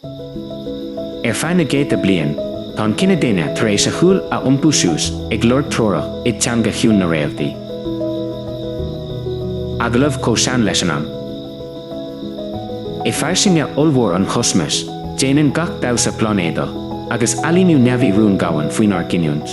Ar feadh na gcéadta bliain, tá an cine daonna tar éis a shúil a iompú suas ag lorg treorach i dteanga chiúin na réaltaí. Agallamh chomh sean leis an am. I fairsinge ollmhór an chosmais, déanann gach damhsa pláinéadach agus ailíniú neamhaí rúin dhomhain faoinár gcinniúint.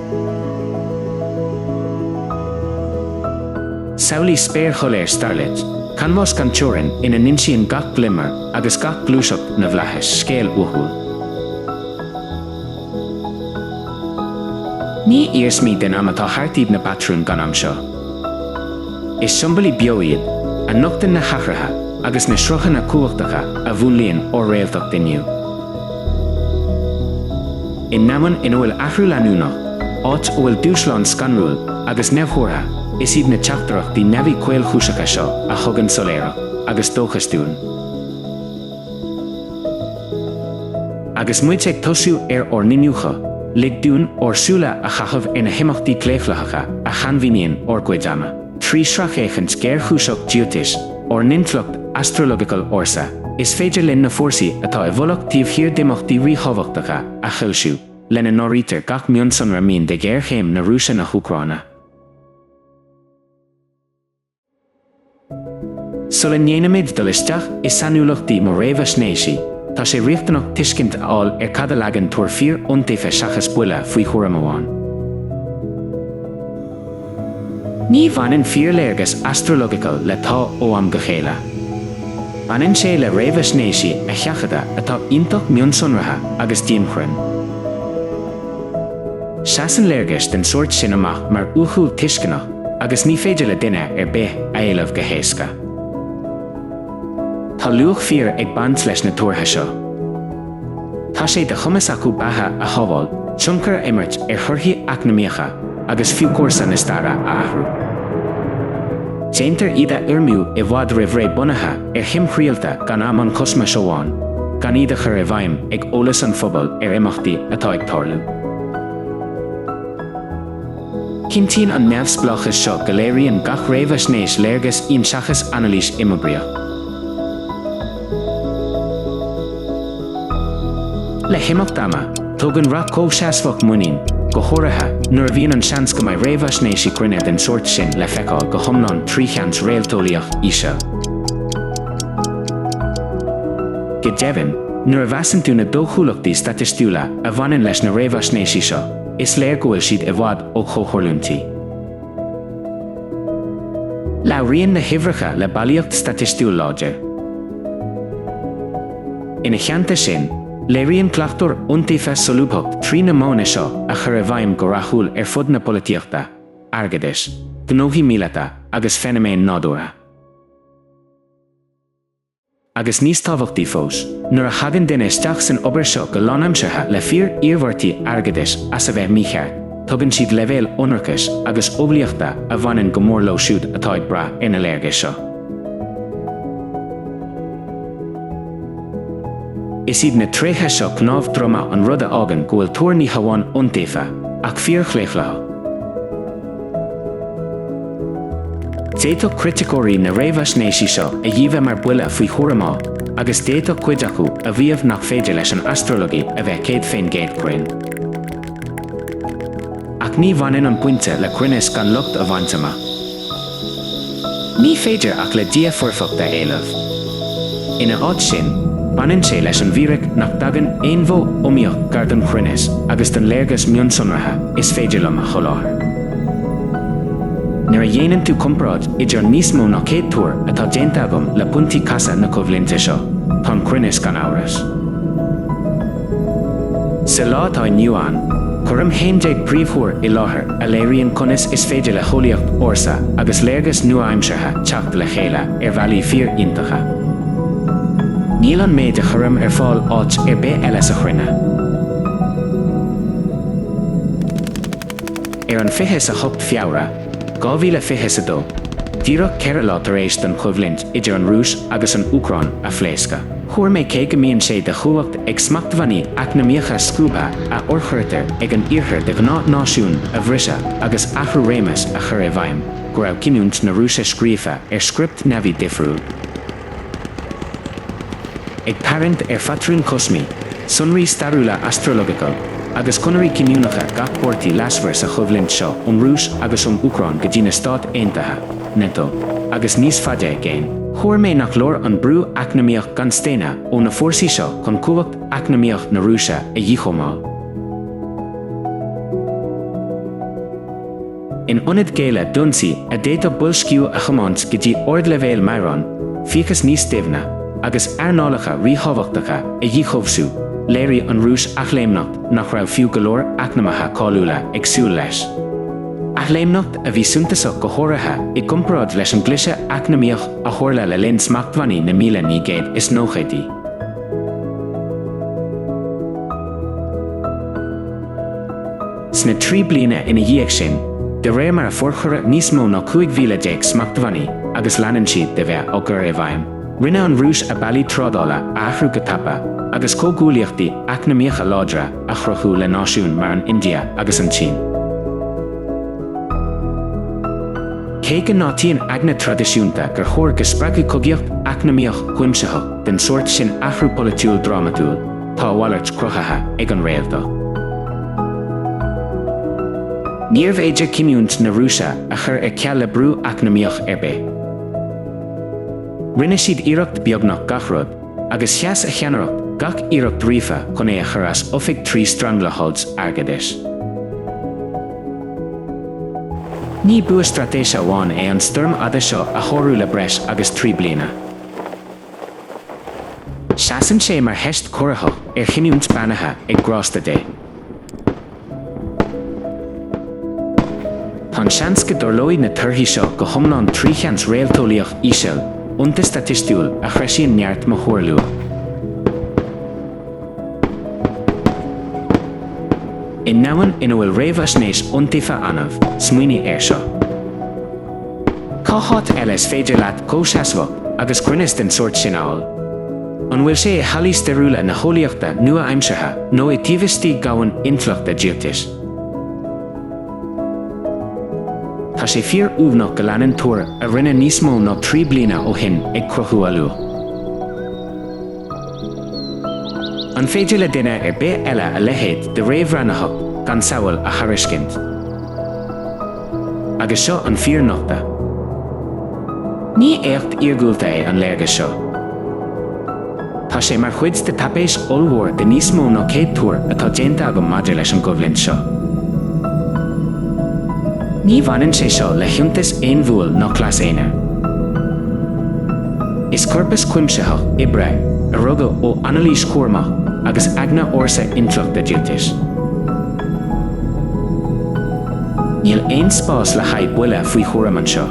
Samhlaigh spéir shoiléir starlit, canbhás gan teorainn ina n-insíonn gach glimmer agus gach gluaiseacht na bhflaithis scéal uathúil. Ní iarsmaí den am atá thart iad na patrúin gan am seo. Is siombailí beo iad, a nochtann na hathruithe agus na sruthanna cumhachtacha a mhúnlaíonn ár réaltacht inniu. I ndomhan ina bhfuil athrú leanúnach, áit a bhfuil dúshlán scanrúil agus neamhthuartha, is iad na teachtaireachtaí neamhaí caolchúiseacha seo a thugann soiléireacht agus dóchas dúinn. Agus muid ag tosú ar ár n-iniúchadh, lig dúinn ár súile a chaitheamh ar na himeachtaí claochlaitheacha a shainmhíníonn ár gcuid ama. Trí sracfhéachaint ghéarchúiseach Jyotish, ár n-intleacht astrological ársa, is féidir linn na fórsaí atá i bhfolach taobh thiar d'imeachtaí ríthábhachtacha a shoilsiú, lena n-áirítear gach mionsonra mín de ghéarchéim na Rúise-na hÚcráine. Sula ndéanaimid dul isteach i sainiúlachtaí mo réamhaisnéisí, tá sé riachtanach tuiscint a fháil ar cad a leagann tuar fíor iontaofa seachas buille faoi thuairim amháin. Ní bhaineann fíorléargas astrological le 'tá' ó am go chéile. Baineann sé le réamhaisnéisí a sheachadadh atá iontach mionsonraithe agus dianchruinn. Seasann léargais den sórt sin amach mar uathúil tuisceanach agus ní féidir le duine ar bith a éileamh go héasca. Tá luach fíor ag baint leis na tuartha seo. Tá sé de chumas acu beatha a shábháil, tionchar a imirt ar thorthaí eacnamaíocha agus fiú cúrsa na staire a athrú. Déantar iad a fhoirmiú i bhfad roimh ré bunaithe ar thimthriallta gan am an chosmais amháin, gan iad a chur i bhfeidhm ag eolas an phobail ar imeachtaí atá ag tarlú. Cinntíonn an neamhspleáchas seo go léiríonn gach réamhaisnéis léargas íon seachas anailís imoibríoch. Le himeacht ama, tógann rath comhsheasmhach muinín, go háirithe nuair a bhíonn an seans go mbeidh réamhaisnéisí cruinne den sórt sin le feiceáil go hiomlán trí sheans réalteolaíoch íseal. Go deimhin, nuair a mheasann tú na dóchúlachtaí staitistiúla a bhaineann leis na réamhaisnéisí seo, is léir go bhfuil siad i bhfad ó chomhtharlúintí. Labhraíonn na huimhreacha le bailíocht staitistiúil láidir. Ina theannta sin, léiríonn cleachtóir iontaofa solúbthacht trí na modhanna seo a chur i bhfeidhm go rathúil ar fud na polaitíochta, airgeadais, gnóthaí míleata agus feiniméin nádúrtha. Agus níos tábhachtaí fós, nuair a thagann duine isteach san obair seo go lánaimseartha le fíor-iarmhairtí airgeadais as a bheith mícheart, tugann siad leibhéal ionracais agus umhlaíochta a bhaineann go mór leo siúd atá ag brath ar na léargais seo. Is iad na tréithe seo cnámh droma an rud a fhágann go bhfuil tuar ní hamháin iontaofa, ach fíorchlaochlaitheach. D'fhéadfadh criticeoirí na réamhaisnéisí seo a dhíbhe mar buille faoi thuairim ádh agus d'fhéadfadh cuid acu a mhaíomh nach féidir leis an astralaíocht a bheith céad faoin gcéad cruinn. Ach ní bhaineann an pointe le cruinneas gan locht a bhaint amach. Ní féidir ach le Dia foirfeacht a éileamh. Ina áit sin, baineann sé leis an bhfíric nach dtagann aon mhodh iomaíoch gar don chruinneas agus don léargas mionsonraithe is féidir liom a sholáthar. Nuair a dhéanann tú comparáid idir an níos mó ná céad tuar atá déanta agam le pointí casadh na coimhlinte seo, tá an cruinneas gan amhras. Sa lá atá inniu ann, cuirim 11 phríomhthuar i láthair a léiríonn conas is féidir le heolaíocht ársa agus léargas nua-aimseartha teacht le chéile ar bhealaí fíor-iontacha. Níl an méid a chuirim ar fáil áit ar bith eile sa chruinne. Ar an 28 Feabhra, 2020 is a dó, díreach ceithre lá tar éis don choimhlint idir an Rúis agus an Úcráin a phléascadh. Thuar mé cé go mbíonn sé de chumhacht ag smachtbhannaí eacnamaíocha scuabtha a fhorchuirtear ag an Iarthar de ghnáth náisiúin a bhriseadh agus athrú réimeas a chur i bhfeidhm, go raibh cinniúint na Rúise scríofa ar script neamhaí difriúil. Ag tarraingt ar phatrúin cosmacha, sonraí stairiúla astrological, agus conairí cinniúnacha gach páirtí leasmhair sa choimhlint seo ón Rúis agus ón Úcráin go dtí na Stáit Aontaithe, Nato, agus níos faide i gcéin, thuar mé nach leor an brú eacnamaíoch gan staonadh ó na fórsaí seo chun cumhacht eacnamaíoch na Rúise a dhíchóimeáil. In ionad géilleadh d'ionsaí a d'fhéadfadh boilsciú a thiomáint go dtí ardleibhéil meadhrán, fiachas níos doimhne, agus earnálacha ríthábhachtacha a dhíchobhsú, léirigh an Rúis athléimneacht nach raibh fiú go leor eacnamaithe cáiliúla ag súil leis, athléimneacht a bhí suntasach go háirithe i gcomparáid leis an gcliseadh eacnamaíoch a tharla le linn smachtbhannaí na míle naoi gcéad is nóchaidí. Sna trí bliana ina dhiaidh sin, de réir mar a forchuireadh níos mó ná 15,000 smachtbhannaí, agus leanann siad de bheith á gcur i bhfeidhm, rinne an Rúis a bealaí trádála a athrú go tapa, agus comhghuaillíochtaí eacnamaíocha láidre a chruthú le náisiúin mar an India agus an tSín. Cé go n-áitíonn eagna traidisiúnta gur chóir go spreagfadh cogaíocht eacnamaíoch chuimsitheach den sórt sin athrú polaitiúil drámatúil, Tá a mhalairt cruthaithe ag an réaltacht. Níorbh fhéidir cinniúint na Rúise a chur ar ceal le brú eacnamaíoch ar bith. Rinne siad iarracht beagnach gach rud, agus sheas a cheannaireacht gach iarracht ríofa chun é a chur as oifig trí stranglehold airgeadais. Ní bua straitéise amháin é an stoirm fhada seo a shárú le breis agus trí bliana. Seasann sé mar theist chorraitheach ar chinniúint beannaithe ag grásta Dé. Tá an seans go dtarlóidh na torthaí seo go hiomlán trí sheans réalteolaíoch íseal, iontas staitistiúil a threisíonn neart mo thuar luath. I ndomhan ina bhfuil réamhaisnéis iontaofa annamh, smaoinigh air seo. Cá háit eile is féidir leat comhsheasmhacht agus cruinneas den sórt sin a fháil? An bhfuil sé i hallaí stairiúla na heolaíochta nua-aimseartha nó i dtaobh istigh dhomhan intleachta Jyotish? Tá sé fíor-uamhnach go leanann tuar a rinneadh níos mó ná trí bliana ó shin ag cruthú a luach. An féidir le duine ar bith eile a leithéid de réamhbhreathnaitheacht gan samhail a thairiscint? Agus seo an fíornochtadh. Ní éacht iargúlta é an léargas seo. Tá sé mar chuid de taipéis ollmhór de níos mó ná céad tuar atá déanta agam maidir leis an gcoimhlint seo. Ní bhaineann sé seo le hiontais aon bhuail ná cleas aonair. Is corpas cuimsitheach oibre a rugadh ó anailís chúramach agus eagna ársa intleachta Jyotish. Níl aon spás le haghaidh buille faoi thuairim anseo.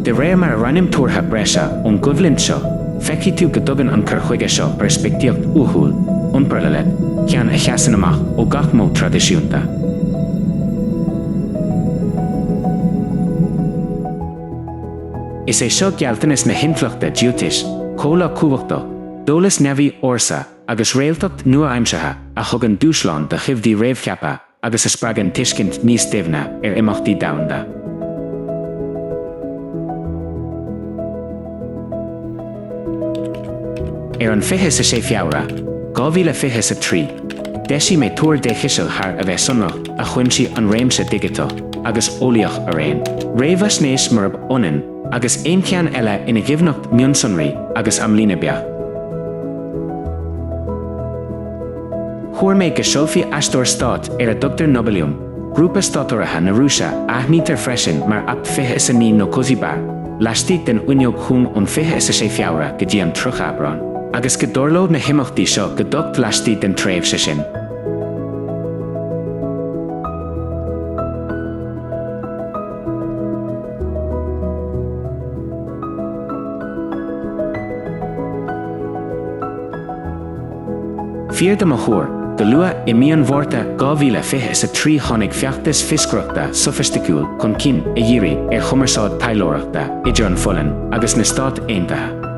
De réir mar a roinnim tuartha breise ón gcoimhlint seo, feicfidh tú go dtugann an cur chuige seo peirspictíocht uathúil, unparalleled, ceann a sheasann amach ó gach modh traidisiúnta. Is é seo gealltanas na hintleachta Jyotish, comhleá cumhachtach, d'eolas neamhaí ársa, agus réaltacht nua-aimseartha a thugann dúshlán do thoimhdí réamhcheaptha agus a spreagann tuiscint níos doimhne ar imeachtaí domhanda. Ar an 26 Feabhra, 2023, d'eisigh mé tuar déchiseal thar a bheith sonrach a chuimsigh an réimse digiteach agus eolaíoch araon, réamhaisnéis murab ionann agus aon cheann eile ina dhoimhneacht mionsonraí agus amlíne beacht. Thuar mé go seolfadh aisteoir stáit ar a dtugtar Nobelium, grúpa státurraithe na Rúise a aithnítear freisin mar APT fiche is a naoi nó Cozy Bear, laistigh den fhuinneog chúng ón fiche is a sé Feabhra go dtí an 30 Aibreán, agus go dtarlódh na himeachtaí seo go docht laistigh den tréimhse sin. Fíor do mo thuar, go luath i mí an Mhárta 2023 tháinig feachtas fioscaireachta sofaisticiúil chun cinn a dhírigh ar chumarsáid taidhleoireachta idir an Pholainn agus na Stáit Aontaithe.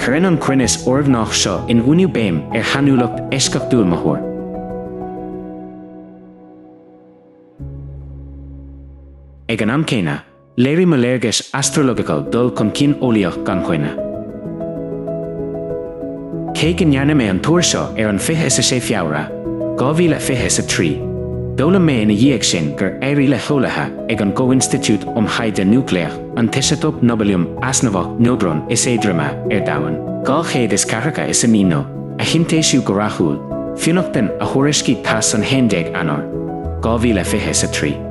Cuireann an cruinneas urghnách seo in uainiú béim ar shainiúlacht eisceachtúil mo thuar. Ag an am céanna, léirigh mo léargais astrological dul chun cinn eolaíoch gan choinne. Cé go ndearna mé an tuar seo ar an 26 Feabhra, 2023, d'fhoghlaim mé ina dhiaidh sin gur éirigh le heolaithe ag an gComhinstitiúid um Thaighde Núicléach an t-iseatóp Nobelium easnamhach neodrón is éadroime ar domhan, 249 no, a shintéisiú go rathúil, fionnachtain a thuairiscigh TASS an 11 Eanáir, 2023.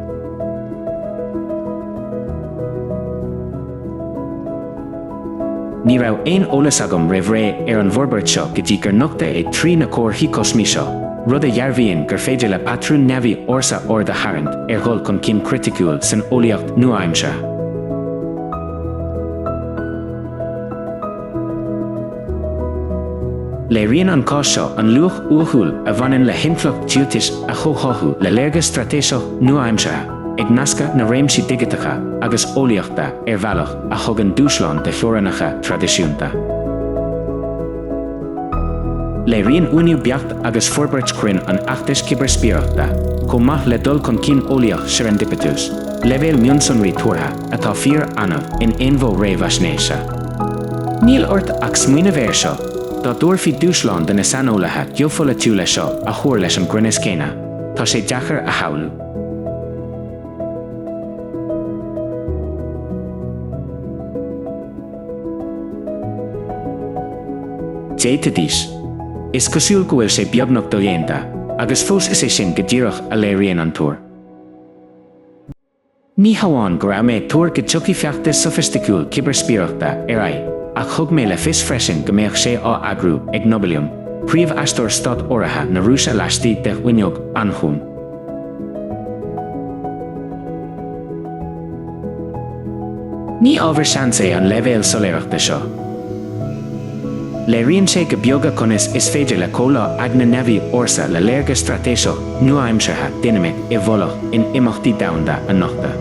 Ní raibh aon eolas agam roimh ré ar an bhforbairt seo go dtí gur nochtadh é trí na comharthaí cosmaí seo, rud a dhearbhaíonn gur féidir le patrúin neamhaí ársa aird a tharraingt ar dhul chun cinn criticiúil san eolaíocht nua-aimseartha. Léiríonn an cás seo an luach uathúil a bhaineann le hintleacht Jyotish a chomhtháthú le léargas straitéiseach nua-aimseartha. ag nascadh na réimsí digiteacha agus eolaíochta ar bhealach a thugann dúshlán do theorainneacha traidisiúnta. Léiríonn uainiú beacht agus forbairt chruinn an fheachtais cibearspiaireachta, chomh maith le dul chun cinn eolaíoch serendipitous, leibhéal mionsonraí tuartha atá fíor-annamh in aon mhodh réamhaisnéise. Níl ort ach smaoineamh air seo, dá dtabharfaí dúshlán do na saineolaithe geopholaitiúla seo a thuar leis an gcruinneas céanna, tá sé deacair a shamhlú. Jyotish. Is cosúil go bhfuil sé beagnach dodhéanta, agus fós is é sin go díreach a léiríonn an tuar. Ní hamháin go raibh mé ag tuar go dtiocfadh feachtas sofaisticiúil cibearspiaireachta ar aghaidh, ach thug mé le fios freisin go mbeadh sé á eagrú ag Nobelium, príomhaisteoir stát-urraithe na Rúise laistigh de fhuinneog an-chúng. Ní ábhar seans é an leibhéal soiléireachta seo. Léiríonn sé go beoga conas is féidir le comhleá eagna neamhaí ársa le léargas straitéiseach nua-aimseartha dinimic i bhfolach in imeachtaí domhanda a nochtadh.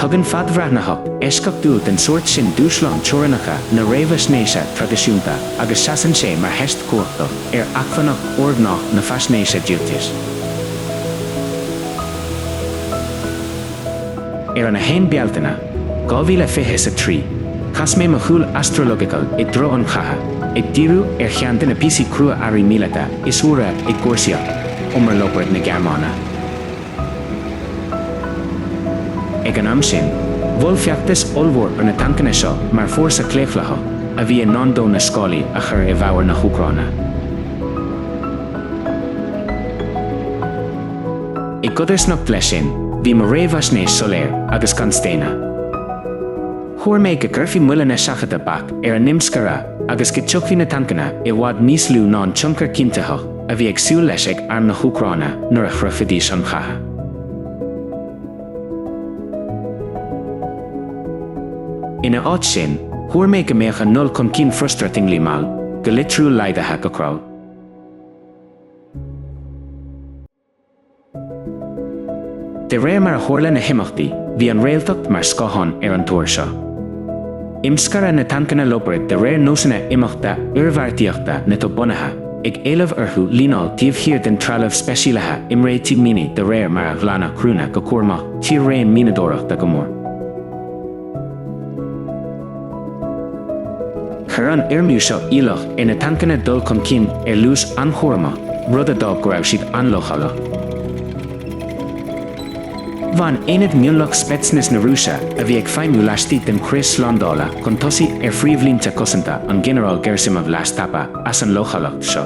Tugann fadbhreathnaitheacht eisceachtúil den sórt sin dúshlán teorainneacha na réamhaisnéise traidisiúnta agus seasann sé mar theist chumhachtach. ar acmhainneacht urghnách na faisnéise Jyotish. Ar an 1 Bealtaine, 2023, chas mé mo shúil astrological i dtreo an chatha, ag díriú ar cheann de na píosaí crua-earraí míleata is úire i gcúrsaíocht umar Leopard na Gearmáine. Ag an am sin, mhol feachtas ollmhór ar na tancanna seo mar fórsa claochlaitheach a bhí i ndán dó na scálaí a chur i bhfabhar na hÚcráine. I gcodarsnacht leis sin, bhí mo réamhaisnéis soiléir agus gan staonadh. Thuar mé go gcuirfí moilleanna seachadta bac ar a n-imscaradh agus go dtitfeadh na tancanna i bhfad níos lú ná an tionchar cinntitheach, a bhí ag súil leis ag Arm na hÚcráine nuair a shroichfidís an chatha. Ina áit sin, thuar mé go mbeadh a ndul chun cinn frustratingly mall, go litriúil laghdaithe go crawl. De réir mar a tharla na himeachtaí, bhí an réaltacht mar scáthán ar an tuar seo. Imscaradh na tancanna Leopard de réir nósanna imeachta oirbheartaíochta NATO bunaithe, ag éileamh orthu líneáil taobh thiar den trealamh speisialaithe imréitigh mianaigh de réir mar a ghlanadh criúnna go cúramach tír-raon mianadóireachta go mór. Chuir an fhoirmliú seo iallach ar na tancanna dul chun cinn ar luas an-chúramach, rud a d'fhág go raibh siad an-leochaileach. Bhain aonad mionlach Spetsnaz na Rúise, a bhí ag feidhmiú laistigh den chrios slándála chun tosaigh ar phríomhlínte cosanta an Ghinearáil Gerasimov leas tapa as an leochaileacht seo.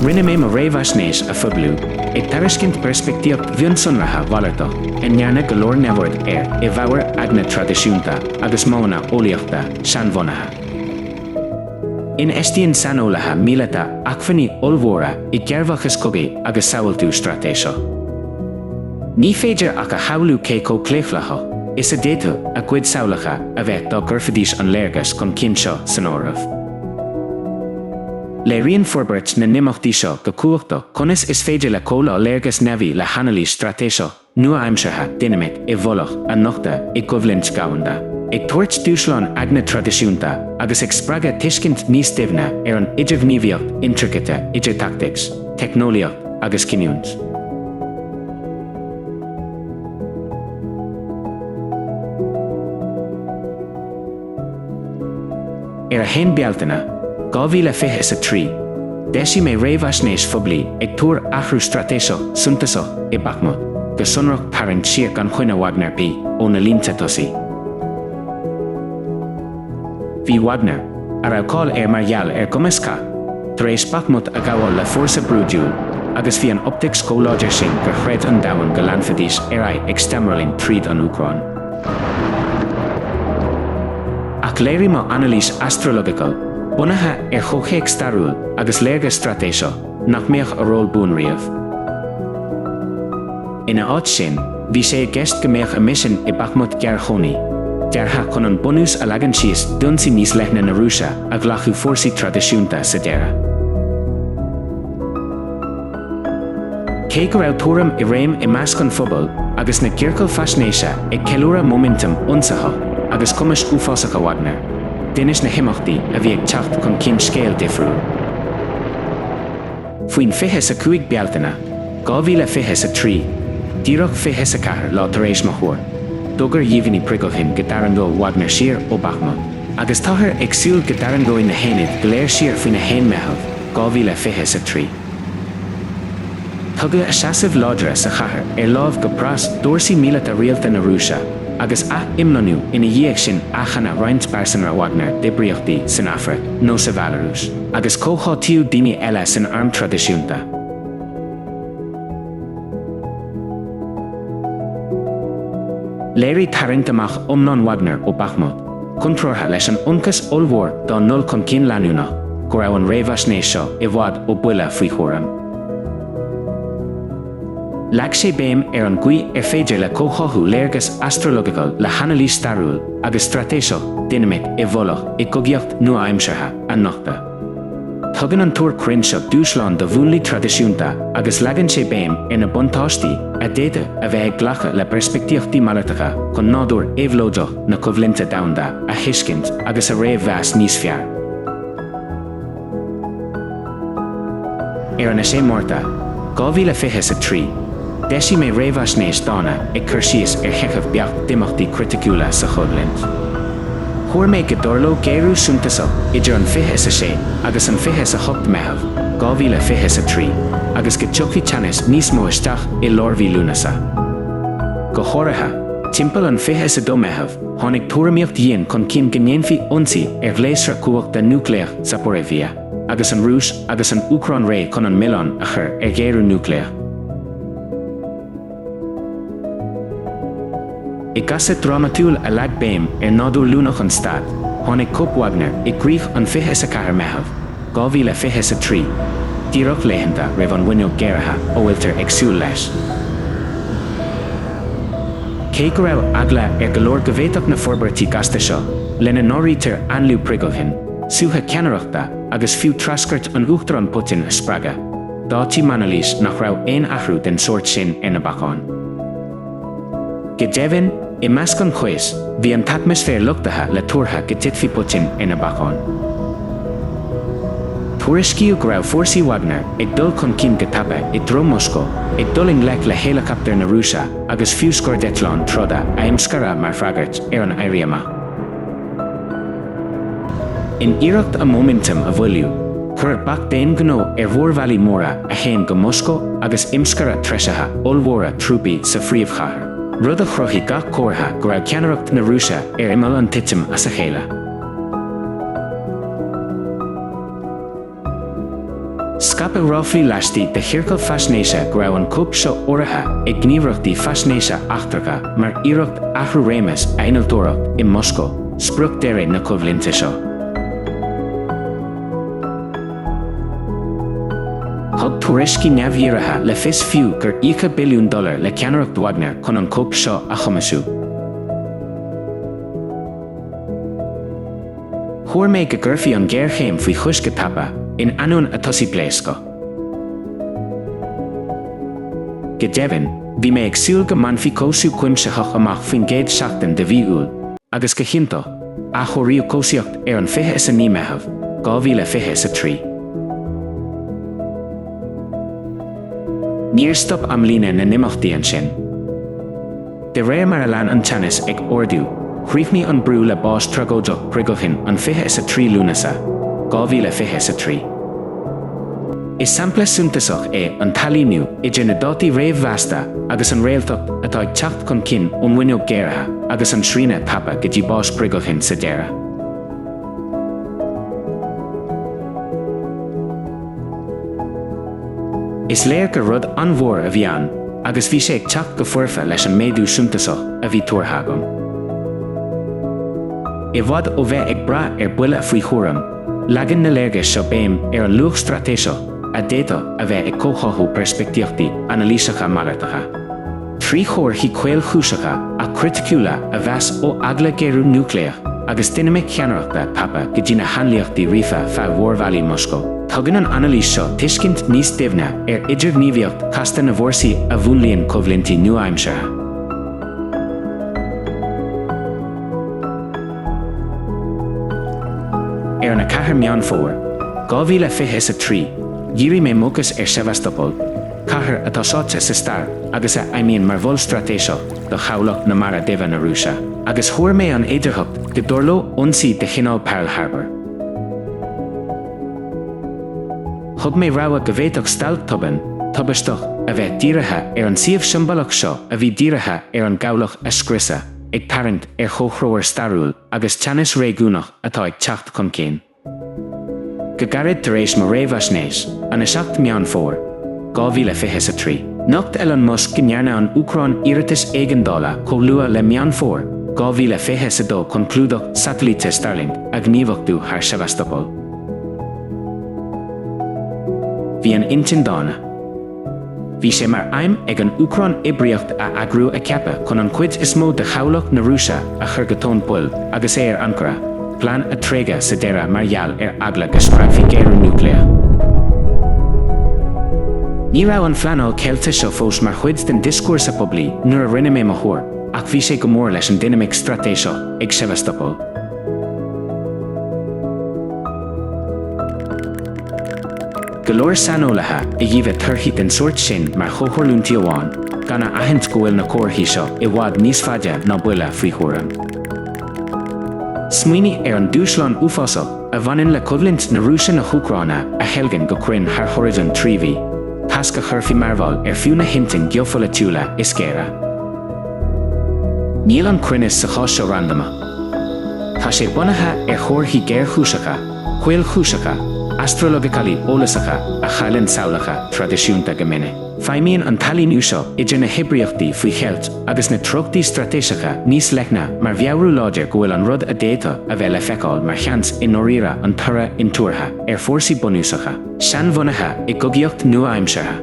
Rinne mé mo réamhaisnéis a phoibliú, ag tairiscint peirspictíocht mhionsonraithe mhalartach a ndearnadh go leor neamhaird air i bhfabhar eagna traidisiúnta agus modhanna eolaíochta seanbhunaithe. Infheistíonn saineolaithe míleata acmhainní ollmhóra i gcearrbhachas cogaidh agus samhaltú straitéiseach. Ní féidir ach a shamhlú cé chomh claochlaitheach is a d'fhéadfadh a gcuid samhlacha a bheith dá gcuirfidís an léargas chun cinn seo san áireamh. Léiríonn forbairt na n-imeachtaí seo go cumhachtach conas is féidir le comhleá léargas neamhaí le hanailís straitéiseach, nua-aimseartha dinimic i bhfolach a nochtadh i gcoimhlint dhomhanda, ag tabhairt dúshlán eagna traidisiúnta agus ag spreagadh tuiscint níos doimhne ar an idirghníomhaíocht intricate idir tactics, teicneolaíocht agus cinniúint. Ar 1 Bealtaine 2023, d'eisigh mé réamhaisnéis phoiblí ag tuar athrú straitéiseach suntasach i Bakhmut, go sonrach tarraingt siar gan choinne Wagner P ó na línte tosaigh. Bhí Wagner, a raibh cáil air mar gheall ar gcumas cath, tar éis Bakhmut a ghabháil le fórsa brúidiúil agus bhí an optaics chomh láidir sin gur chreid an domhan go leanfaidís ar aghaidh ag steamrolling tríd an Úcráin. Ach léirigh mo anailís astrological, bunaithe ar chomhthéacs stairiúil agus léargas straitéiseach, nach mbeadh a ról buan riamh. Ina áit sin, bhí sé i gceist go mbeadh a misean i Bakhmut gearrchónaí, deartha chun an bunús a leagan síos d'ionsaí níos leithne na Rúise a ghlacfadh fórsaí traidisiúnta sa deireadh. Cé go raibh tuairim i réim i measc an phobail agus na gciorcal faisnéise ag ceiliúradh móiminteam ionsaitheach agus cumais uafásacha Wagner, d'inis na himeachtaí a bhí ag teacht chun cinn scéal difriúil. Faoin 25 Bealtaine 2023, díreach 24 lá tar éis mo thuair, d'fhógair Yevgeny Prigozhin go dtarraingeodh Wagner siar ó Bakhmut, agus táthar ag súil go dtarraingeoidh na haonaid go léir siar faoin 1 Meitheamh 2023. Tugadh a seasaimh láidre sa chathair ar láimh go pras d'fhórsaí míleata rialta na Rúise, agus ath-imlonnú ina dhiaidh sin athshannadh roinnt pearsanra Wagner d'oibríochtaí san Afraic nó sa Bhealarúis, agus comhtháthaíodh daoine eile san arm traidisiúnta. Léirigh tarraingt amach iomlán Wagner ó Bakhmut, Contrártha leis an ionchas ollmhór dá ndul chun cinn leanúnach, go raibh an réamhaisnéis seo i bhfad ó buille faoi thuairim. Leag sé béim ar an gcaoi ar féidir le comhtháthú léargas astrological le hanailís stairiúil agus straitéiseach dinimic i bhfolach i gcogaíocht nua-aimseartha a nochtadh. Tugann an túr cruinn seo dúshlán do mhúnlaí traidisiúnta agus leagann sé béim ar na buntáistí a d'fhéadfadh a bheith ag glacadh le peirspictíochtaí malartacha chun nádúr éabhlóideach na coimhlinte domhanda a thuiscint agus a réamh-mheas níos fearr. Ar an 6 Márta, 2023. D'eisigh mé réamhaisnéis dána ag cur síos ar sheicheamh beacht d'imeachtaí criticiúla sa choimhlint. Thuar mé go dtarlódh géarú suntasach idir an 26 agus an 28 Meitheamh 2023 agus go dtiocfadh teannas níos mó isteach i lár mhí Lúnasa. Go háirithe, timpeall an 22 Meitheamh, tháinig tuairimíocht dhian chun cinn go ndéanfaí ionsaí ar ghléasra cumhachta núicléach Zaporizhzhia. Agus an Rúis agus an Úcráin réidh chun an milleán a chur ar ghéarú núicléach, I gcasadh drámatúil a leag béim ar nádúr luaineach an stáit, tháinig coup Wagner i gcrích an 24 Meitheamh 2023, díreach laethanta roimh an bhfuinneog géaraithe a bhfuiltear ag súil leis. Cé go raibh eagla ar go leor go bhféadfadh na forbairtí gasta seo, lena n-áirítear ainliú Prigozhin, suaitheadh ceannaireachta agus fiú treascairt an Uachtaráin Putin a spreagadh. D'áitigh Manoulias nach raibh aon athrú den sórt sin ar na bacáin. Go deimhin, i measc an chaois, bhí an t-atmaisféar luchtaithe le tuartha go dtitfí Putin ar na bacáin. Tuairiscíodh go raibh fórsaí Wagner ag dul chun cinn go tapa i dtreo Mhoscó, ag dul i ngleic le héileacaptair na Rúise agus fiú scairdeitleáin troda a imscaradh mar fhreagairt ar an éirí amach. In iarracht a móiminteam a mhoilliú, cuireadh bac d'aon ghnó ar mhórbhealaí móra a théann go Moscó agus imscaradh treisithe ollmhóra trúpaí sa phríomhchathair, rud a chruthaigh gach comhartha go raibh ceannaireacht na Rúise ar imeall an titim as a chéile. Scaipeadh ráflaí laistigh de chiorcail faisnéise go raibh an coup seo urraithe ag gníomhaireachtaí faisnéise eachtracha mar iarracht athrú réimeas a innealtóireacht i Moscó, sprioc deiridh na coimhlinte seo. Thug tuairiscí neamhdhírithe le fios fiú gur íocadh billiún dollar le ceannaireacht Wagner chun an coup seo a chumasú. Thuar mé go gcuirfí an ghéarchéim faoi chois go tapa in ainneoin a tosaí pléascaí. Go deimhin, bhí mé ag súil go mbainfí cobhsú cuimsitheach amach faoin gcéad seachtain de mhí Iúil agus go hiontach, athchóiríodh cobhsaíocht ar an 29 Meitheamh, 2023. Níor stop amlíne na n-imeachtaí ansin. De réir mar a lean an teannas ag ardú, chríochnaigh an brú le bás tragóideach Prigozhin an 23 Lúnasa, 2023. Is sampla suntasach é an t-ailíniú idir na dátaí réamh-mheasta agus an réaltacht atá ag teacht chun cinn ón bhfuinneog géaraithe agus an srianadh tapa go dtí bás Prigozhin sa deireadh. Is léir gur rud an-mhór a bhí ann agus bhí sé ag teacht go foirfe leis an méadú suntasach a bhí tuartha agam. I bhfad ó bheith ag brath ar bhuille faoi thuairim, leagann na léargais seo béim ar an luach straitéiseach a d'fhéadfadh a bheith ag comhtháthú peirspictíochtaí anailíseacha malartacha. trí chomharthaí caolchúiseacha ach criticiúla a mheas ó eagla géarú núicléach agus dinimic cheannaireachta tapa go dtí na hainlíochtaí ríofa feadh mhórbhealaí Moscow. Tugann an anailís seo tuiscint níos doimhne ar idirghníomhaíocht chasta na bhfórsaí a mhúnlaíonn coimhlintí nua-aimseartha. Ar an 4 Meán Fómhair, 2023, dhírigh mé m'fhócas ar Sevastopol, cathair atá sáite sa stair agus a fheidhmíonn mar mhol straitéiseach do chabhlach na Mara Duibhe na Rúise, agus thuar mé an fhéidearthacht go dtarlódh ionsaí de chineál Pearl Harbour. Thug mé rabhadh go bhféadfadh stailc tobann, tubaisteach a bheith dírithe ar an suíomh siombalach seo a bhí dírithe ar an gcabhlach a scriosadh, ag tarraingt ar chomhthreomhar stairiúil agus teannas réigiúnach atá ag teacht chun cinn. Go gairid tar éis mo réamhaisnéis, an 7 Meán Fómhair 2023, nocht Elon Musk go ndearna an Úcráin iarratais éigeandála chomh luath le Meán Fómhair 2022 chun clúdach satailíte Starlink a ghníomhachtú thar Sevastopol. Bhí an intinn dána. Bhí sé mar aidhm ag an Úcráin oibríocht a eagrú a ceapadh chun an chuid is mó de chabhlach na Rúise a chur go tóin poill agus é ar ancaire, plean a tréigeadh sa deireadh mar gheall ar eagla go spreagfaí géarú núicléach. Ní raibh an phleanáil cheilte seo fós mar chuid den dioscúrsa poiblí nuair a rinne mé mo thuar, ach bhí sé go mór leis an dinimic straitéiseach ag Sevastopol. go leor saineolaithe a dhíbhe torthaí den sórt sin mar chomhtharlúintí amháin, gan a aithint go bhfuil na comharthaí seo i bhfad níos faide ná buille faoi thuairim. Smaoinigh ar an dúshlán uafásach a bhaineann le coimhlint na Rúise-na hÚcráine a theilgean go cruinn thar horizon trí mhí, tasc a chuirfeadh mearbhall ar fiú na hintinn geopholaitiúla is géire. Níl an cruinneas sa chás seo randamach. Tá sé bunaithe ar chomharthaí géarchúiseacha. caolchúiseacha, astrologically eolasacha a chailleann samhlacha traidisiúnta go minic. Feidhmíonn an t-ailíniú seo idir na hoibríochtaí faoi cheilt agus na treochtaí straitéiseacha níos leithne mar mheabhrú láidir go bhfuil an rud a d'fhéadfadh a bheith le feiceáil mar sheans i ndáiríre an toradh intuartha ar fhórsaí bunúsacha, seanbhunaithe i gcogaíocht nua-aimseartha.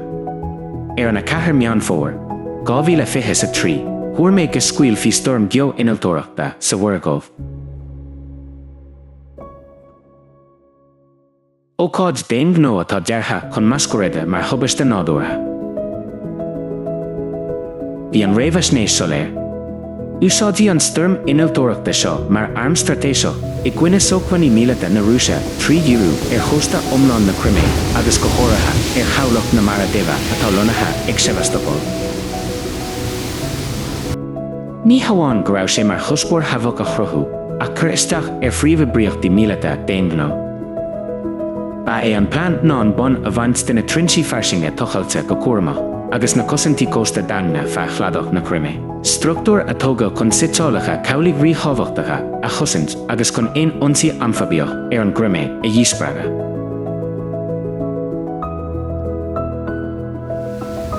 Ar an 4 Meán Fómhair, 2023, thuar mé go scaoilfí stoirm geo-innealtóireachta sa Mhuir Dhubh. Ócáid d'aonghnó atá deartha chun masquerade mar thubaiste nádúrtha. Bhí an réamhaisnéis soiléir. Úsáidfí an stoirm innealtóireachta seo mar arm straitéiseach i gcoinne sócmhainní míleata na Rúise trí dhíriú ar chósta iomlán na Crimé agus go háirithe ar chabhlach na Mara Duibhe atá lonnaithe ag Sevastopol. Ní hamháin go raibh sé mar chuspóir havoc a chruthú, ach cur isteach ar phríomhoibríochtaí míleata d'aonghnó. Ba é an plean ná an bonn a bhaint de na trinsí fairsinge tochailte go cúramach, agus na cosaintí cósta daingne feadh chladach na Crimé, struchtúir a tógadh chun suiteálacha cabhlaigh ríthábhachtacha a chosaint agus chun aon ionsaí amfaibiach ar an gCrimé a dhíspreagadh.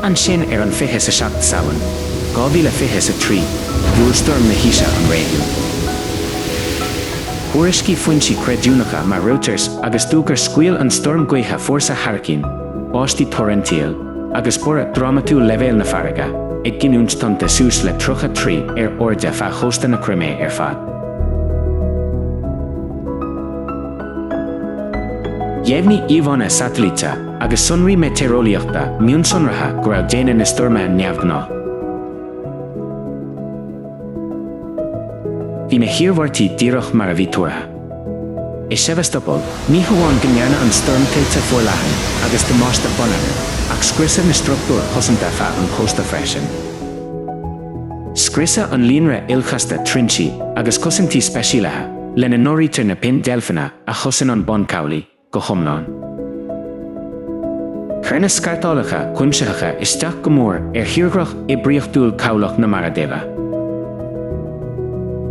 Ansin ar an 27 Samhain 2023 bhuail stoirm na haoise an réigiún. Thuairiscigh foinsí creidiúnacha mar Reuters agus DW gur scaoil an stoirm gaotha fórsa hairicín, báistí torrential, agus borradh drámatúil leibhéal na farraige, ag giniúint tonnta suas le 30 troigh ar airde feadh chósta na Crimé ar fad. Dheimhnigh íomhánna satailíte agus sonraí meitéareolaíochta mionsonraithe go raibh déine na stoirme neamhghnáth. Bhí na hiarmhairtí díreach mar a bhí tuartha. I Sevastopol, ní hamháin go ndearna an stoirm tuilte forleathan agus damáiste bonneagair, ach scriosadh na struchtúir chosanta feadh an chósta freisin. Scriosadh an líonra ilchasta trinsí agus cosaintí speisialaithe, lena n-áirítear na pin deilfeanna a chosain an bun cabhlaigh. go hiomlán. Chuir na scartálacha cuimsitheacha isteach go mór ar thírdhreach oibríochtúil cabhlach na Mara Duibhe.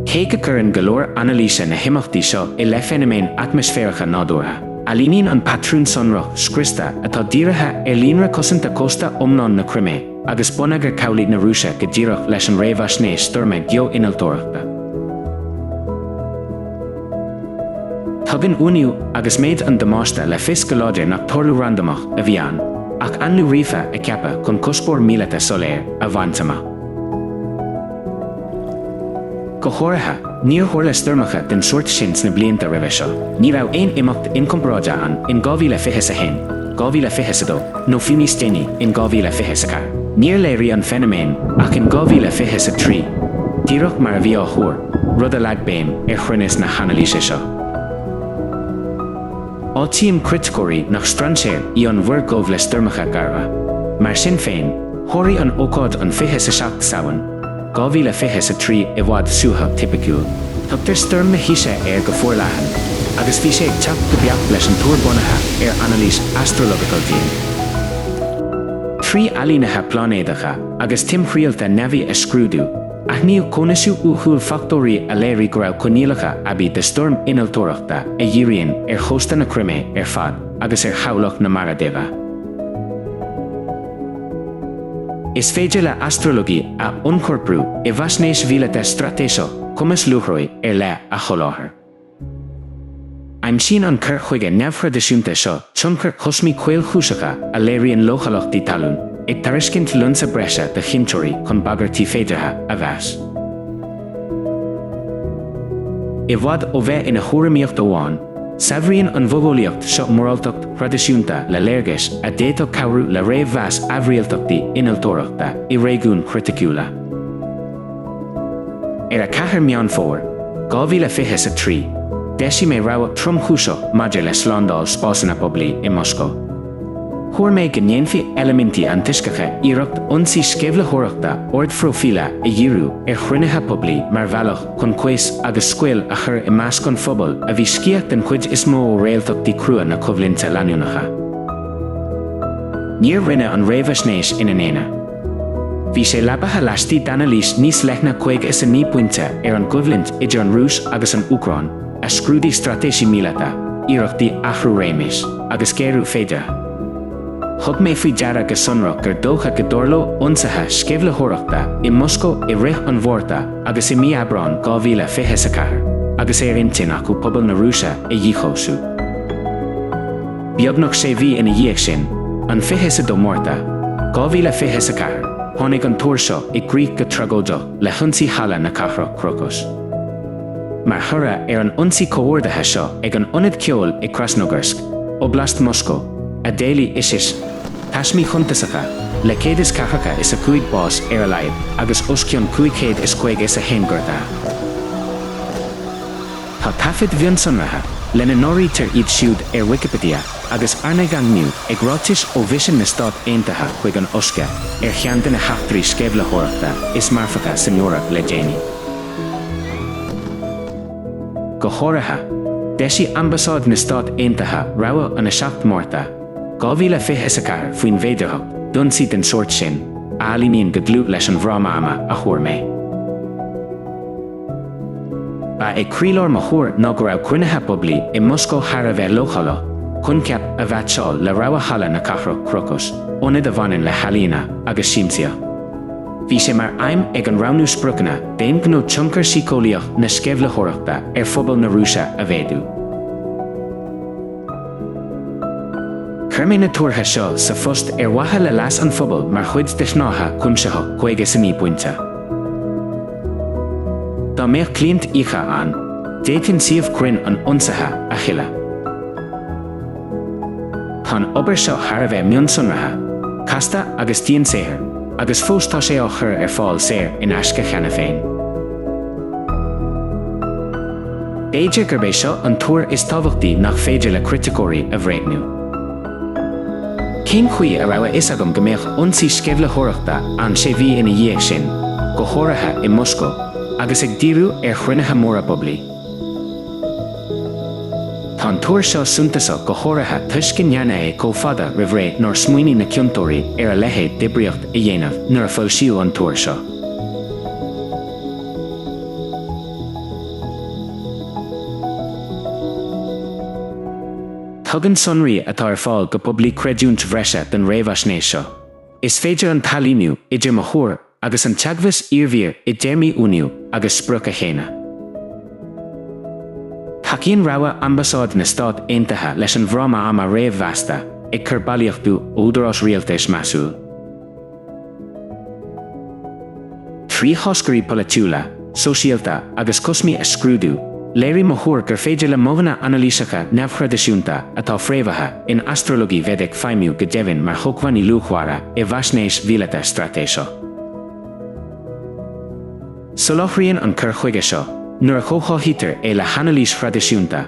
Cé go gcuireann go leor anailíse na himeachtaí seo i leith feiniméin atmaisféaracha nádúrtha, ailíníonn an patrún sonrach scriosta atá dírithe ar líonra cosanta cósta iomlán na Crimé, agus bonneagar cabhlaigh na Rúise go díreach leis an réamhaisnéis stoirme geo-innealtóireachta. Tugann uainiú agus méid an damáiste le fios go láidir nach tarlú randamach a bhí ann, ach ainliú ríofa a ceapadh chun cuspóir míleata soiléir a bhaint amach. Go háirithe, níor tharla stoirmeacha den sórt sin sna blianta roimhe seo. Ní raibh aon imeacht inchomparáide ann in 2021, 2022, nó fiú níos déanaí, in 2024. Níor léirigh an feiniméan ach in 2023, díreach mar a bhí á thuar, rud a leag béim ar chruinneas na hanailíse seo. Áitíonn criticeoirí nach strainséir í an Mhuir Dhubh le stoirmeacha garbha. Mar sin féin, sháraigh an ócáid an 27 Samhain, 2023 i bhfad suaitheadh tipiciúil. Tugtar stoirm na haoise air go forleathan, agus bhí sé ag teacht go beacht leis an tuar bunaithe ar anailís astrological dhian. Trí ailínithe pláinéadacha agus timthriallta neamhaí a scrúdú, Aithníodh cóineasú uathúil fachtóirí a léirigh go raibh coinníollacha aibí do stoirm innealtóireachta a dhíríonn ar chósta na Crimé ar fad agus ar chabhlach na Mara Duibhe. Is féidir le astrologia a ionchorprú i bhfaisnéis mhíleata straitéiseach, cumas luathrabhaidh ar leith a sholáthar. Aimsíonn an cur chuige neamhthraidisiúnta seo tionchair chosmaí chaolchúiseacha a léiríonn leochaileachtaí talún, ag tairiscint lionsa breise do chinnteoirí chun bagairtí féideartha a mheas. I bhfad ó bheith ina thuairimíocht amháin, saibhríonn an mhodheolaíocht seo moráltacht thraidisiúnta le léargais a d'fhéadfadh cabhrú le réamh-mheas aimhrialtachtaí innealtóireachta i réigiúin chriticiúla. Ar 4 Meán Fómhair, 2023, d'eisigh mé rabhadh tromchúiseach maidir le slándáil spásanna poiblí i Moscó. Thuar mé go ndéanfaidh eilimintí antoisceacha iarracht ionsaí sceimhlitheoireachta ardphróifíle a dhíriú ar chruinnithe poiblí mar bhealach chun caos agus scaoll a chur i measc an phobail a bhí sciath den chuid is mó ó réaltachtaí crua na coimhlinte leanúnacha. Níor rinneadh an réamhaisnéis ina n-aonar. Bhí sé leabaithe laistigh d'anailís níos leithne 59 pointe ar an gcoimhlint idir an Rúis agus an Úcráin, a scrúdaigh straitéisí míleata, iarrachtaí athrú réimis, agus géarú féideartha. Thug mé faoi deara go sonrach gur dócha go dtarlódh ionsaithe sceimhlitheoireachta i Moscó i rith an Mhárta agus i mí Aibreáin 2024, agus é ar intinn acu pobal na Rúise a dhíchobhsú. Beagnach sé mhí ina dhiaidh sin, an 22 Márta 2024, tháinig an tuar seo i gcrích go tragóideach le hionsaí Halla na Cathrach Crocus. Mar thoradh ar an ionsaí comhordaithe seo ag an ionad ceoil i Krasnogorsk, Oblast Moscó, a d'éiligh Isis taismí shuntasacha, le céad is ceathracha is a cúig bás ar a laghad agus os cionn cúig chéad is caoga is a haon gortaithe. Tá taifid mhionsonraithe, lena n-áirítear iad siúd ar Wikipedia agus arna dhaingniú ag ráitis ó Mhisean na Stát Aontaithe chuig an OSCE, ar cheann de na heachtraí sceimhlitheoireachta is marfacha san Eoraip le déanaí. Go háirithe, d'eisigh Ambasáid na Stát Aontaithe rabhadh an 7 Márta 2024 faoin bhféidearthacht d'ionsaí den sórt sin a ailíníonn go dlúth leis an bhfráma ama a thuar mé. Ba é croílár mo thuar ná go raibh cruinnithe poiblí i Moscó thar a bheith leochaileach, coincheap a mheaitseáil le rogha Halla na Cathrach Crocus, ionad a bhaineann le healaíona agus siamsaíocht. Bhí sé mar aidhm ag an roghnú spriocanna d'aon ghnó tionchar síceolaíoch na sceimhlitheoireachta ar phobal na Rúise a mhéadú. Chuir mé na tuartha seo sa phost ar mhaithe le leas an phobail mar chuid de shnáithe cuimsitheach 59 bpointe. Dá mbeadh cliant íoctha ann, d'fhéadfainn suíomh cruinn an ionsaithe a chinneadh. Tá an obair seo thar a bheith mionsonraithe, casta agus diansaothar, agus fós tá sé á chur ar fáil saor in aisce cheana féin. B'fhéidir gurb é seo an tuar is tábhachtaí nach féidir le criticeoirí a bhréagnú. Cén chaoi a raibh a fhios agam go mbeadh ionsaí sceimhlitheoireachta ann sé mhí ina dhiaidh sin, go háirithe i Moscó, agus ag díriú ar chruinnithe móra poiblí? Tá an tuar seo suntasach go háirithe toisc go ndearnadh é chomh fada roimh ré nár smaoinigh na ciontóirí ar a leithéid d'oibríocht a dhéanamh nuair a foilsíodh an tuar seo. Tugann sonraí atá ar fáil go poiblí creidiúint bhreise don réamhaisnéis seo. Ní féidir an t-ailíniú idir mo thuar agus an teagmhas iarbhír i dtéarmaí uainiú agus sprioc a shéanadh. Tacaíonn rabhadh Ambasáid na Stát Aontaithe leis an bhfráma ama réamh-mheasta, ag cur bailíochtú údaráis rialtais measúil. Trí tháscairí polaitiúla, sóisialta agus cosmaí a scrúdú, léirigh mo thuar gur féidir le modhanna anailíseacha neamhthraidisiúnta atá fréamhaithe in astralaíocht Vedic feidhmiú go deimhin mar shócmhainní luachmhara i bhfaisnéis mhíleata straitéiseach. Soláthraíonn an cur chuige seo, nuair a chomhtháthaítear é le hanailís thraidisiúnta,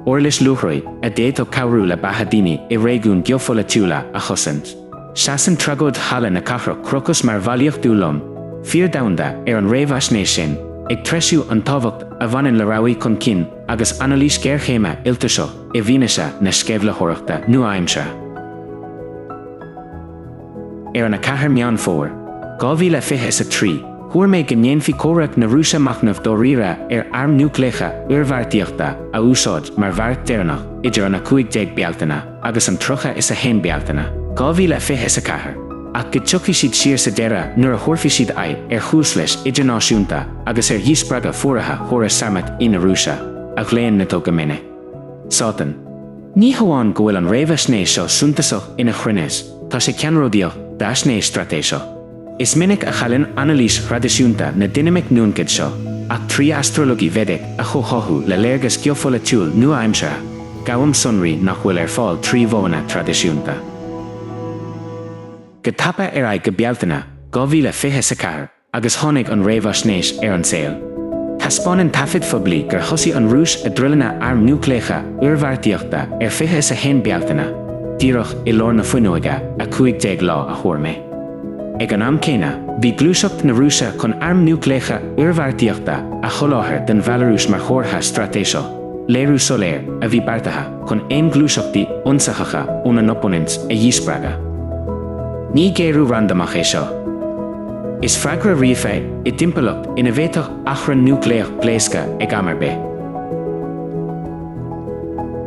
uirlis luathrabhaidh a d'fhéadfadh cabhrú le beatha daoine i réigiúin geopholaitiúla a chosaint. Seasann tragóid Halla na Cathrach Crocus mar bhailíochtú lom, fíor domhanda, ar an réamhaisnéis sin, ag treisiú an tábhacht a bhaineann le rabhaidh chun cinn agus anailís géarchéime iltoiseach i bhfianaise na sceimhlitheoireachta nua-aimseartha. Ar an 4 Meán Fómhair, 2023, thuar mé go ndéanfadh comhrac na Rúise machnamh dáiríre ar airm núicléacha oirbheartaíochta a úsáid mar bheart deireanach idir an 15 Bealtaine agus an 30 is 1 Bealtaine 2020 is 4, ach go dtiocfaidh siad siar sa deireadh nuair a thabharfaidh siad aghaidh ar chúis leis idirnáisiúnta agus ar dhíspreagadh fuaraithe chóras Sarmat I na Rúise, a ghlaonn Nato go minic. Sátan. Ní hamháin go bhfuil an réamhaisnéis seo suntasach ina chruinneas, tá sé ceannródaíoch d'fhaisnéis straitéiseach. Is minic a chailleann anailís thraidisiúnta na dinimic nuancead seo, ach trí astrology Vedic a chomhtháthú le léargas geopholaitiúil nua-aimseartha, gabhaim sonraí nach bhfuil ar fáil trí mhodhanna traidisiúnta. Go tapa ar aghaidh go Bealtaine 2020 is 4 agus tháinig an réamhaisnéis ar an saol. Taispeánann taifid phoiblí gur thosaigh an Rúis a druileanna airm núicléacha oirbheartaíochta ar fiche is a haon Bealtaine, díreach i lár na fuinneoige, 15 lá a thuar mé. Ag an am céanna, bhí gluaiseacht na Rúise chun airm núicléacha oirbheartaíochta a sholáthar don Bhealarúis mar chomhartha straitéiseach, léiriú soiléir, a bhí beartaithe chun aon ghluaiseachtaí ionsaitheacha óna n-opponents a dhíspreagadh. Ní géarú randamach é seo. Is freagra ríofa é, i dtimpeallacht ina bhféadfadh achrann núicléach pléascadh ag am ar bith.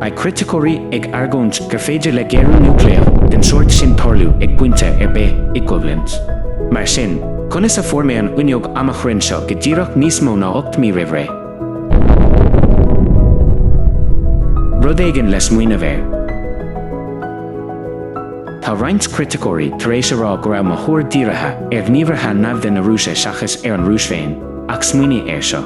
Beidh criticeoirí ag argóint gur féidir le géarú núicléach den sórt sin tarlú ag pointe ar bith, i gcoimhlint. Mar sin, conas a fuair mé an fhuinneog ama chruinn seo go díreach níos mó ná ocht mí roimh ré? Rud éigin le smaoineamh air. Tá roinnt criticeoirí tar éis a rá go raibh mo thuar dírithe ar ghníomhartha naimhde na Rúise seachas ar an Rúis féin, ach smaoinigh air seo.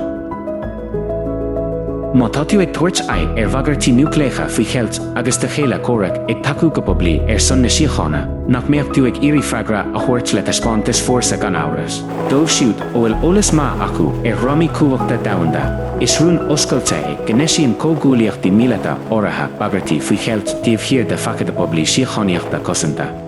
Má tá tú ag tabhairt aghaidh ar bhagairtí núicléacha faoi cheilt agus do chéile comhraic ag tacú go poiblí ar son na síochána, nach mbeadh tú ag iarraidh freagra a thabhairt le taispeántas fórsa gan amhras? Dóibh siúd a bhfuil eolas maith acu ar dhrámaí cumhachta domhanda, is rún oscailte é go n-eisíonn comhghuaillíochtaí míleata áirithe bagairtí faoi cheilt taobh thiar de facade poiblí síochánaíochta cosanta.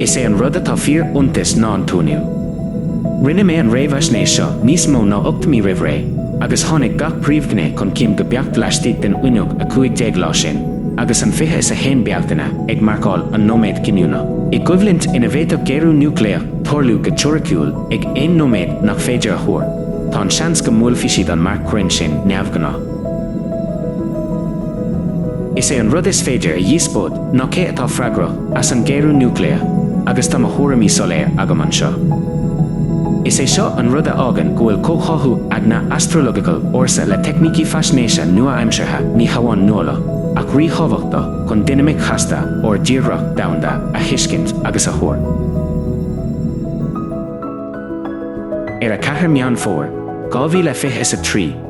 Is é an rud atá fíoriontach ná an t-uainiú. Rinne mé an réamhaisnéis seo níos mó ná ocht mí roimh ré, agus tháinig gach príomhghné chun cinn go beacht laistigh den fhuinneog 15 lá sin, agus an fiche is a haon Bealtaine ag marcáil an nóiméad cinniúnach, i gcoimhlint ina bhféadfadh géarú núicléach tarlú go teoiriciúil ag aon nóiméad nach féidir a thuar, tá an seans go mbuailfidh siad an marc cruinn sin neamhghnách. Is é an rud is féidir a dhíospóid ná cé atá freagrach as an géarú núicléach agus tá mo thuairimí soiléir agam anseo. Is é seo an rud a fhágann go bhfuil comhtháthú eagna astrological ársa le teicnící faisnéise nua-aimseartha ní hamháin nuálach ach ríthábhachtach chun dinimic chasta ár dtírdhreach domhanda a thuiscint agus a thuar. Ar 4 Meán Fómhair, 2023,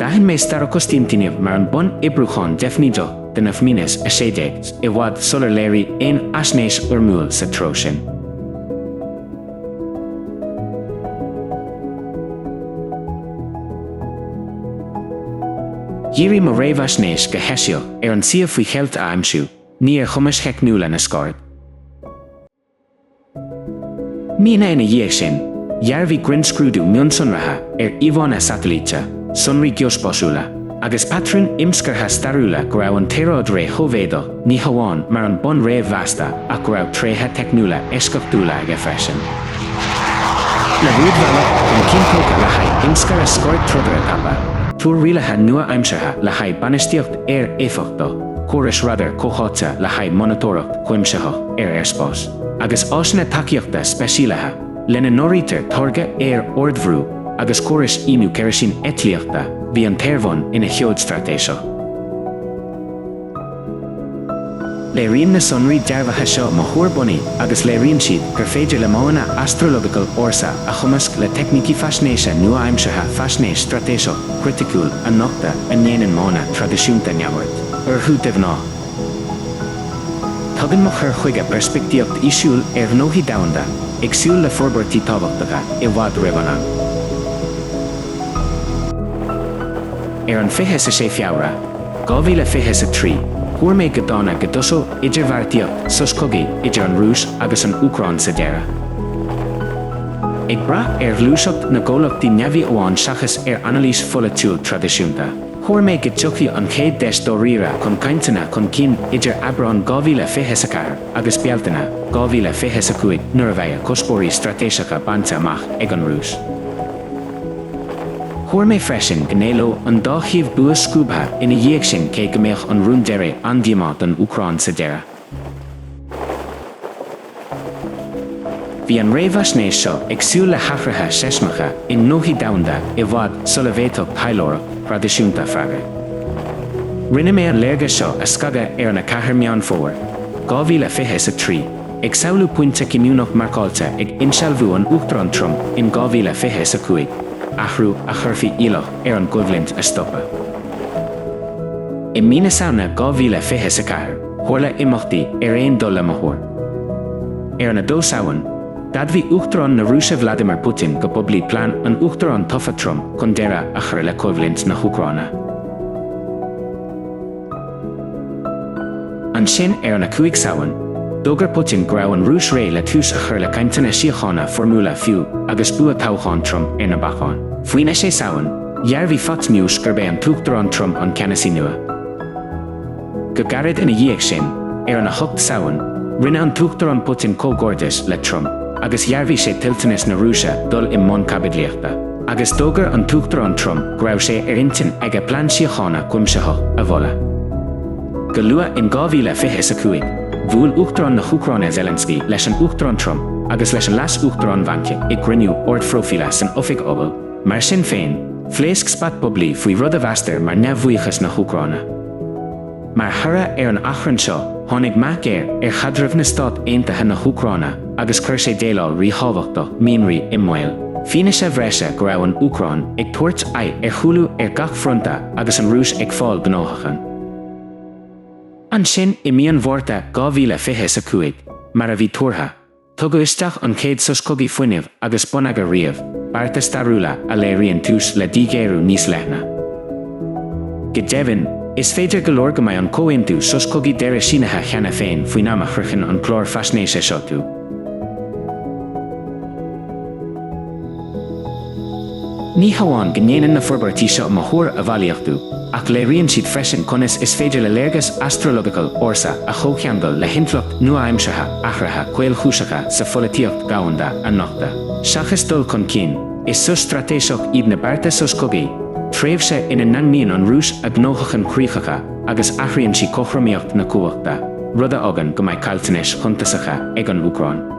D'aithin mé Starokostiantyniv mar an bonn oibriúcháin deifnídeach do na F-16, i bhfad sular léirigh aon fhaisnéis fhoirmiúil sa treo sin. Dhírigh mo réamhaisnéis go heisiach ar an suíomh faoi cheilt a aimsiú, ní ar chumais theicniúla na scaird. Míonna ina dhiaidh sin, dhearbhaigh grinnscrúdú mionsonraithe ar íomhánna satailíte, sonraí geospásúla, agus patrúin imscartha stairiúla go raibh an tsaoráid ré-Shóivéadach ní hamháin mar an bonn réamh-mheasta ach go raibh tréithe teicniúla eisceachtúla aige freisin. Le rúidbhealach chun cinn tógtha le haghaidh imscaradh scairdtrodairí tapa, túr rialaithe nua-aimseartha le haghaidh bainistíocht aeir éifeachtach, córais radair comhtháite le haghaidh monatóireacht chuimsitheach ar aerspás, agus áiseanna tacaíochta speisialaithe, lena n-áirítear táirgeadh aer ardbhrú agus córais íonú ceirisín eitlíochta, bhí an t-aerbhonn ina sheoid straitéiseach. Léiríonn na sonraí dearbhaithe seo mo thuar bunaidh agus léiríonn siad gur féidir le modhanna astrological ársa a chumasc le teicnící faisnéise nua-aimseartha faisnéis straitéiseach, chriticiúil a nochtadh a ndéanann modhanna traidisiúnta neamhaird orthu de ghnáth. Tugann mo chur chuige peirspictíocht fhísiúil ar ghnóthaí domhanda, ag súil le forbairtí tábhachtacha i bhfad roimh an am. Ar an 26 Feabhra, 2023, thuar mé go dána go dtosódh idirbheartaíocht sos cogaidh idir an Rúis agus an Úcráin sa deireadh. Ag brath ar ghluaiseacht na gcomhlachtaí neamhaí amháin seachas ar anailís pholaitiúil traidisiúnta, thuar mé go dtiocfadh an chéad deis dáiríre chun cainteanna chun cinn idir Aibreán 2024 agus Bealtaine 2025 nuair a bheadh a cuspóirí straitéiseacha bainte amach ag an Rúis. Thuar mé freisin go n-éileodh an dá thaobh bua scuabtha ina dhiaidh sin cé go mbeadh an rún deiridh an-díomách don Úcráin sa deireadh. Bhí an réamhaisnéis seo ag súil le hathruithe seismeacha i ngnóthaí domhanda i bhfad sula bhféadfadh taidhleoireacht thraidisiúnta freagairt. Rinne mé an léargas seo a scagadh ar an 4 Meán Fómhair, 2020 is 3, ag samhlú pointe cinniúnach marcáilte ag insealbhú an Uachtaráin Trump in 2020 is 5, athrú a chuirfeadh iallach ar an gcoimhlint a stopadh. I mí na Samhna 2020 is 4. Tharla imeachtaí ar aon dul le mo thuar. Ar an 2 Samhain, d'admhaigh Uachtarán na Rúise Vladimir Putin go poiblí plean an Uachtaráin tofa Trump chun deireadh a chur le coimhlint na hÚcráine. Ansin, ar an 5 Samhain, d'fhógair Putin go raibh an Rúis réidh le tús a chur le cainteanna síochána foirmiúla fiú agus bua toghcháin Trump ar na bacáin. Faoin 6 Samhain, dhearbhaigh Fox News gurb é an tUachtarán Trump an ceannasaí nua. Go gairid ina dhiaidh sin, ar an 8 Samhain, rinne an tUachtarán Putin comhghairdeas le Trump agus dhearbhaigh sé toilteanas na Rúise dul i mbun caibidlíochta, agus d'fhógair an tUachtarán Trump go raibh sé ar intinn aige plean síochána cuimsitheach a mholadh. Go luath in 2025, bhuail Uachtarán na hÚcráine Zelensky leis an Uachtarán Trump agus leis an Leas-Uachtarán Vance i gcruinniú ardphróifíle san Oifig Oval. Mar sin féin, phléasc spat poiblí faoi rud a mheastar mar neamhbhuíochas na hÚcráine. Mar thoradh ar an achrann seo, tháinig meath géar ar chaidreamh na Stát Aontaithe na hÚcráine agus chuir sé déileáil ríthábhachtach mianraí i mbaol, fianaise bhreise go raibh an Úcráin ag tabhairt aghaidh ar chúlú ar gach fronta agus an Rúis ag fáil gnóthachain. Ansin, i mí an Mhárta 2025, mar a bhí tuartha, Tugadh isteach an chéad sos cogaidh fuinnimh agus bonneagair riamh, bearta stairiúla a léiríonn tús le díghéarú níos leithne. Go deimhin, is féidir go leor go mbeidh an comhaontú sos cogaidh deiridh sínithe cheana féin faoin am a shroicheann an clár faisnéise seo tú. Ní hamháin go ndéanann na forbairtí seo mo thuar a bhailíochtú, ach léiríonn siad freisin conas is féidir le léargas astrological ársa a chomhcheangal le hintleacht nua-aimseartha athruithe caolchúiseacha sa pholaitíocht dhomhanda a nochtadh. Seachas dul chun cinn, is sos straitéiseach iad na bearta sos cogaidh, tréimhse ina ndaingníonn an Rúis a gnóthachain chríochacha agus athraíonn sí cothromaíocht na cumhachta, rud a fhágann go mbeidh caillteanais shuntasacha ag an Úcráin.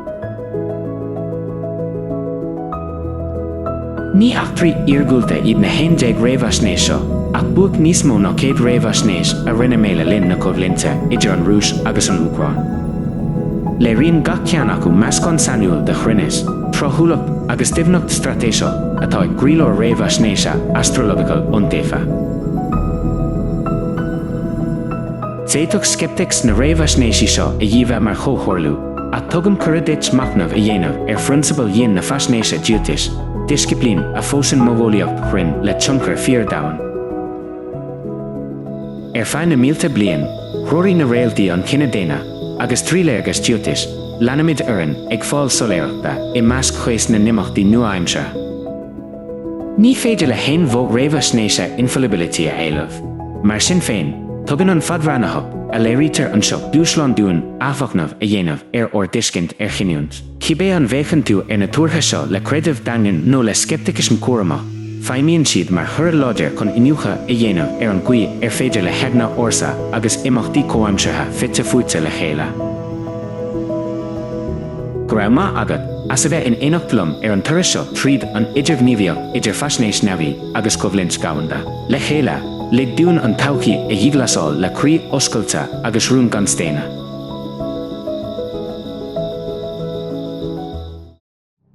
Ní eachtraí iargúlta iad na haon déag réamhaisnéis seo, ach buaic níos mó ná céad réamhaisnéis a rinne mé le linn na coimhlinte idir an Rúis agus an Úcráin. Léiríonn gach ceann acu meascán sainiúil de chruinneas, tráthúlacht agus doimhneacht straitéiseach atá i gcroílár réamhaisnéise astrological iontaofa. D'fhéadfadh sceiptics na réamhaisnéisí seo a dhíbhe mar chomhtharlú, ach tugaim cuireadh duit machnamh a dhéanamh ar phrionsabail dhian na faisnéise Jyotish, disciplín a phósann modheolaíocht chruinn le tionchar fíor-domhain. Ar feadh na mílte bliain, threoraigh na réaltaí an cine daonna, agus trí léargas Jyotish, leanaimid orainn, ag fáil soiléireachta i measc chaos na n-imeachtaí nua-aimseartha. Ní féidir le haon mhodh réamhaisnéise infallibility a éileamh. Mar sin féin, tugann an fadbhreathnaitheacht a léirítear anseo dúshlán dúinn athmhachnamh a dhéanamh ar ár dtuiscint ar chinniúint, cibé an bhféachann tú ar na tuartha seo le creideamh daingean nó le sceipticism cúramach, feidhmíonn siad mar chuireadh láidir chun iniúchadh a dhéanamh ar an gcaoi ar féidir le heagna ársa agus imeachtaí comhaimseartha fite fuaite le chéile. Go raibh maith agat as a bheith in éineacht liom ar an turas seo tríd an idirghníomhaíocht idir faisnéis neamhaí agus coimhlint dhomhanda. Le chéile, lig dúinn an todhchaí a dhíghlasáil le croí oscailte agus rún gan staonadh.